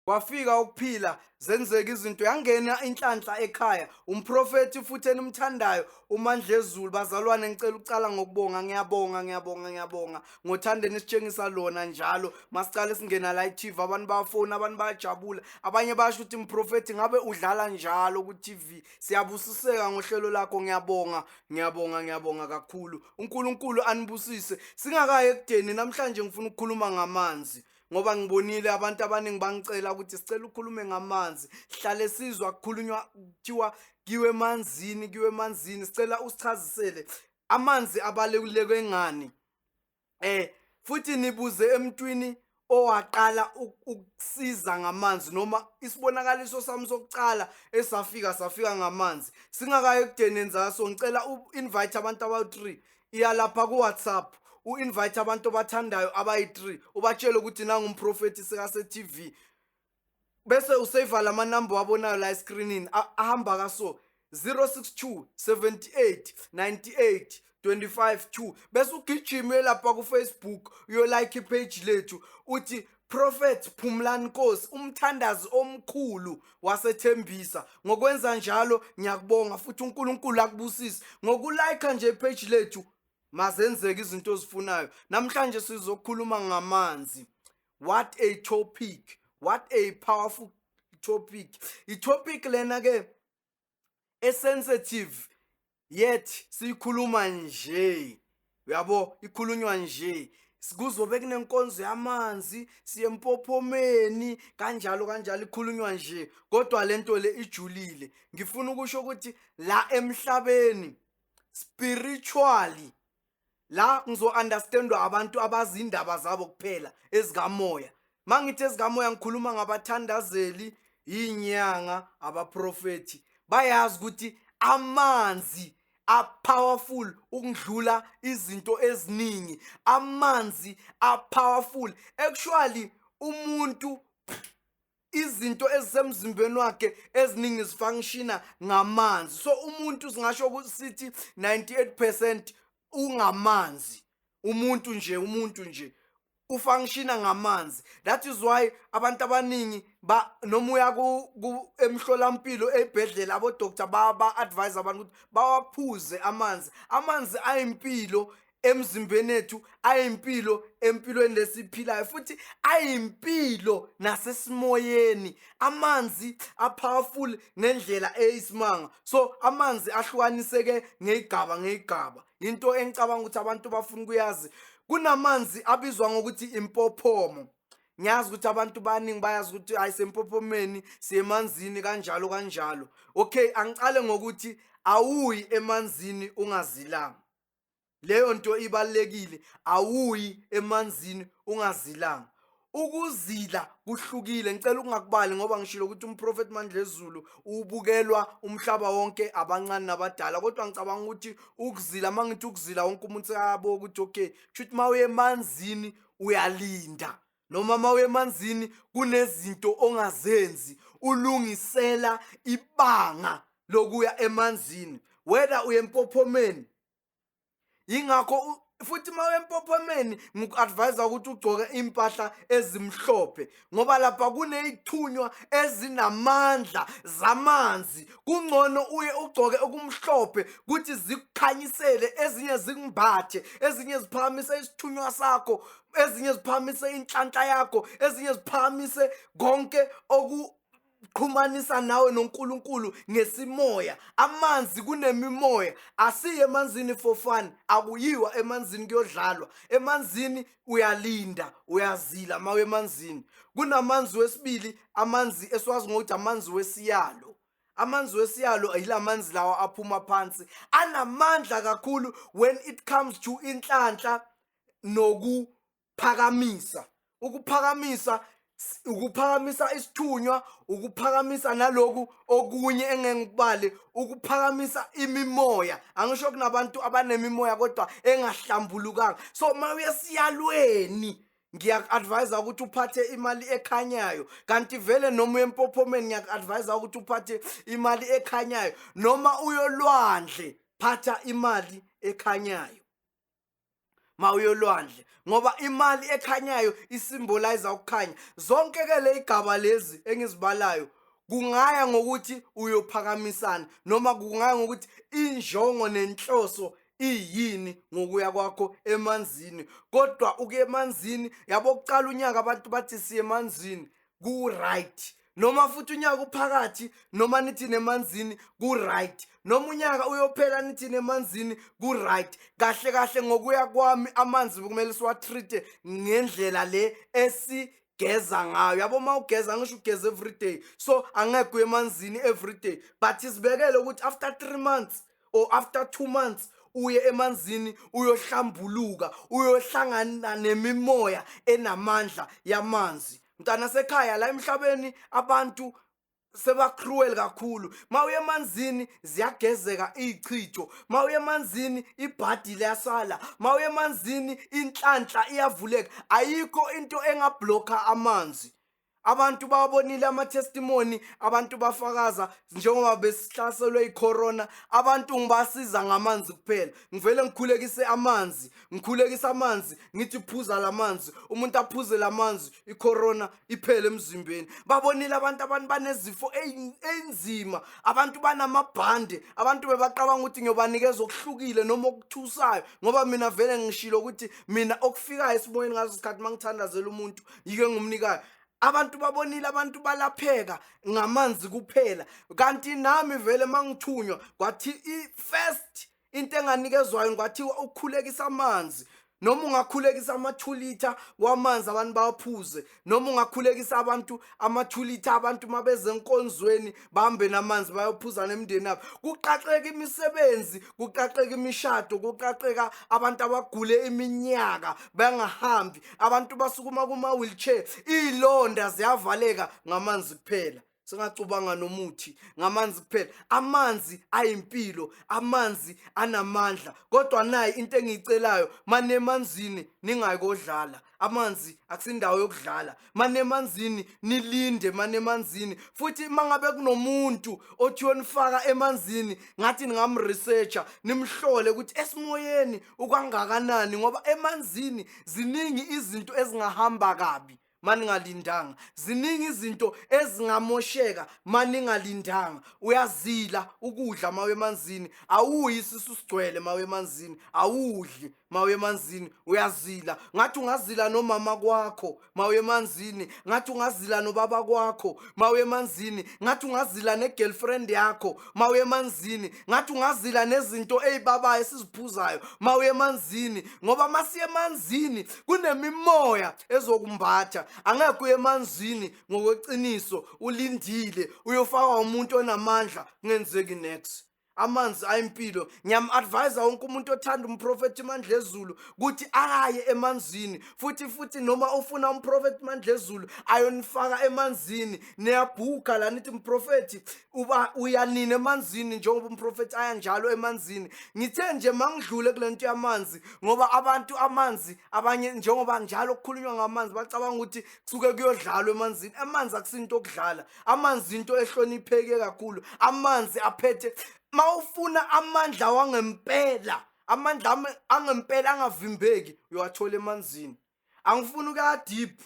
kwafika ukuphila zenzeka izinto yangena inhlanhla ekhaya umprofethi futhi enimthandayo umandlezulu bazalwane ngicela ukucala ngokubonga ngiyabonga ngiyabonga ngiyabonga ngothanda enisitshengisa lona njalo masicale singena la i-tv abantu bayafoni abantu bayajabula abanye basho ukuthi mprofethi ngabe udlala njalo ku-tv siyabusiseka ngohlelo lakho ngiyabonga ngiyabonga ngiyabonga kakhulu uNkulunkulu anibusise singakayi ekudeni namhlanje ngifuna ukukhuluma ngamanzi ngoba ngibonile abantu abaningi bangicela ukuthi sicela ukhulume ngamanzi sihlale sizwa kukhulunywa kuthiwa kiwe emanzini kiwe emanzini sicela usichazisele amanzi abaluleke ngani eh futhi nibuze emntwini owaqala ukusiza ngamanzi noma isibonakaliso sami sokucala esafika safika ngamanzi singakayo ekudeneni zaso ngicela u-invite abantu abawu-three iyalapha ku-whatsapp u-invite abantu obathandayo abayi-three ubatshele ukuthi nangumprofethi sekasetv bese useyiva lama number wabonayo la escreenini a- ahamba ka so 062 78 98 25 2 bese ugijima uye lapha ku Facebook uyo like page lethu uthi Prophet Phumlani Nkosi umthandazi omkhulu wasethembisa ngokwenza njalo ngiyakubonga futhi uNkulunkulu akubusise ngokulike nje page lethu mazenzeke izinto ozifunayo namhlanje sizokhuluma ngamanzi what a topic what a powerful topic itopic lena ke esensitive yet siyikhuluma nje uyabo ikhulunywa nje kuzobe kunenkonzo yamanzi siye empophomeni kanjalo kanjalo ikhulunywa nje kodwa lento le ijulile ngifuna ukusho ukuthi la emhlabeni spiritually la ngizo-understandwa abantu abazi indaba zabo kuphela ezikamoya ma ngithi ezikamoya ngikhuluma ngabathandazeli iy'nyanga abaprofethi bayazi ukuthi amanzi apowerful ukudlula izinto eziningi amanzi apowerful actually umuntu izinto ezisemzimbeni wakhe eziningi zifangishina ngamanzi so umuntu singasho ukuthi sithi 98% ungamanzi umuntu nje umuntu nje ufangishina ngamanzi that is why abantu abaningi ba noma uya ku emhlolampilo ebhedlela abo doctor ba ba advise abantu ukuthi bawaphuze amanzi amanzi ayimpilo emzimbeni ethu ayimpilo empilweni lesiphilayo futhi ayimpilo nasesimoyeni amanzi apowerful ngendlela eyisimanga so amanzi ahlukaniseke ngeyigaba ngeyigaba into engicabanga ukuthi abantu bafuna ukuyazi kunamanzi abizwa ngokuthi impophomo ngiyazi ukuthi abantu baningi bayazi ukuthi hayi sempophomeni siyemanzini kanjalo kanjalo okay angicale ngokuthi awuyi emanzini ungazilanga leyo nto ibalekile awuyi emanzini ungazilanga ukuzila kuhlukile ngicela ukungakubali ngoba ngishilo ukuthi umprofet mandlezulu ubukelwa umhlaba wonke abancane nabadala kodwa ngicabanga ukuthi ukuzila uma ngithi ukuzila wonke umuntu sekayabo ukuthi okay kusho ukuthi uma uye emanzini uyalinda noma mawemanzini kunezinto ongazenzi ulungisela ibanga lokuya emanzini whether uyempophomeni ingakho futhi uma wempophomeni ngiku-advise ukuthi ugcoke iy'mpahla ezimhlophe ngoba lapha kuney'thunywa ezinamandla zamanzi kungcono uye ugcoke okumhlophe kuthi zikukhanyisele ezinye zikumbathe ezinye ziphakamise isithunywa sakho ezinye ziphakamise inhlanhla yakho ezinye ziphakamise konke oku qhumanisa nawe noNkulunkulu ngesimoya amanzi kunemimoya asiye emanzini for fun akuyiwa emanzini kuyodlalwa emanzini uyalinda uyazila mawe emanzini kunamanzi wesibili amanzi esiwazi ngokuthi amanzi wesiyalo amanzi wesiyalo yila manzi lawa aphuma phansi anamandla kakhulu when it comes to inhlanhla nokuphakamisa ukuphakamisa ukuphakamisa isithunywa ukuphakamisa naloku okunye engeke ngikubale ukuphakamisa imimoya angisho kunabantu abanemimoya kodwa engahlambulukanga so uma uyesiyalweni ngiyaku-advayisa ukuthi uphathe imali ekhanyayo kanti vele noma uyempophomeni ngiyaku-advayisa ukuthi uphathe imali ekhanyayo noma uyolwandle phatha imali ekhanyayo mawuyolwandle ngoba imali ekhanyayo isimbolize ukukhanya zonke ke le igaba lezi engizibalayo kungaya ngokuthi uyophakamisana noma kungaya ngokuthi injongo nenhloso iyini ngokuya kwakho emanzini kodwa ukuya emanzini yabo kuqala unyaka abantu bathi siye emanzini ku-right noma futhi unyaka uphakathi noma nithi nemanzini ku-right noma unyaka uyophela nithi nemanzini ku-right kahle kahle ngokuya kwami amanzi kumele siwatrite ngendlela le esi geza ngayo yabo uma ugeza ngisho ugeza everyday so angeke uye emanzini everyday but sibekele ukuthi after three months or after two months uye emanzini uyohlambuluka uyohlangana nemimoya enamandla yamanzi mntana sekhaya la emhlabeni abantu sebacruel kakhulu mawuye emanzini ziyagezeka izichitho mawuye emanzini ibhadi liyasala mawuye emanzini inhlanhla iyavuleka ayikho into engablocka amanzi abantu bawabonile amatestimoni abantu bafakaza njengoba besihlaselwe icorona abantu ngibasiza ngamanzi kuphela ngivele ngikhulekise amanzi ngikhulekise amanzi ngithi phuza lamanzi umuntu aphuze lamanzi icorona iphele emzimbeni babonile abantu abantu banezifo enzima abantu banamabhande abantu bebacabanga ukuthi ngiyobanikeza okuhlukile noma okuthusayo ngoba mina vele ngishilo ukuthi mina okufikayo esimoyeni ngazo isikhathi mangithandazela umuntu yike ngumnikayo abantu babonile abantu balapheka ngamanzi kuphela kanti nami vele mangithunywa kwathi i-first into enganikezwayo kwathiwa ukukhulekisa amanzi noma ungakhulekisa ama-two litha wamanzi abantu bawaphuze noma ungakhulekisa abantu ama-two litha abantu uma beze enkonzweni bambe namanzi bayophuzana emndeni abo kuqaqeka imisebenzi kuqaqeka imishado kuqaqeka abantu abagule iminyaka bangahambi abantu basukuma kuma-wheelchair iy'londa ziyavaleka ngamanzi kuphela singacubanga nomuthi ngamanzi kuphela amanzi ayimpilo amanzi anamandla kodwa nayi into engiyicelayo manemanzini ningayikodlala amanzi akusindawo yokudlala manemanzini nilinde manemanzini futhi mangabe kunomuntu othi yonifaka emanzini ngathi ningamresearcher nimhlole ukuthi esimoyeni ukwangakanani ngoba emanzini ziningi izinto ezingahamba kabi maningalindanga ziningi izinto ezingamosheka maningalindanga uyazila ukudla mawe emanzini awuyi isisu sigcwele mawe emanzini awudli mawuye emanzini uyazila ngathi ungazila nomama kwakho mawuye emanzini ngathi ungazila nobaba kwakho mawuye emanzini ngathi ungazila ne-girlfriend yakho mawuye emanzini ngathi ungazila nezinto ey'babayo esiziphuzayo mawuye emanzini ngoba masiye emanzini kunemimoya ezokumbatha angeke uye emanzini ngokweqiniso ulindile uyofakwa umuntu onamandla kungenzeki next amanzi ayimpilo ngiyam-advise wonke umuntu othanda umprofethi mandlezulu ukuthi akaye emanzini futhi futhi noma ufuna umprofethi mandlezulu ayonifaka emanzini niyabhuka la nithi mprofethi uba uyanini emanzini njengoba umprofethi aya njalo emanzini ngithe nje mangidlule kule nto yamanzi ngoba abantu amanzi abanye njengoba njalo kukhulunywa ngamanzi bacabanga ukuthi suke kuyodlalwa emanzini amanzi akusinto okudlala amanzi into ehlonipheke kakhulu amanzi aphethe mawufuna amandla wangempela amandla angempela angavimbeki uyowathola emanzini angifuni ukuya deep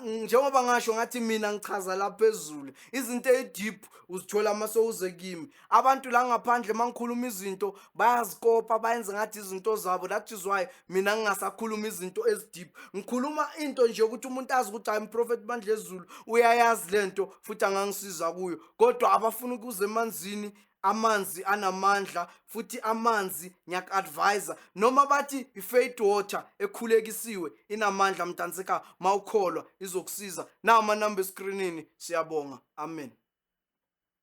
njengoba ngasho ngathi mina ngichaza la phezulu izinto edeep uzithola uma sowuze kimi abantu la ngaphandle uma ngikhuluma izinto bayazikopa bayenze ngathi izinto zabo that is why mina ngingasakhuluma izinto ezideep ngikhuluma into nje ukuthi umuntu azi ukuthi hayi mprofethi bandla ezulu uyayazi le nto futhi angangisiza kuyo kodwa abafuna ukuze emanzini amanzi anamandla futhi amanzi ngiyaku-advisa noma bathi i-faith water ekhulekisiwe inamandla mntanseka ma ukholwa izokusiza nawo amanamba eskrinini siyabonga amen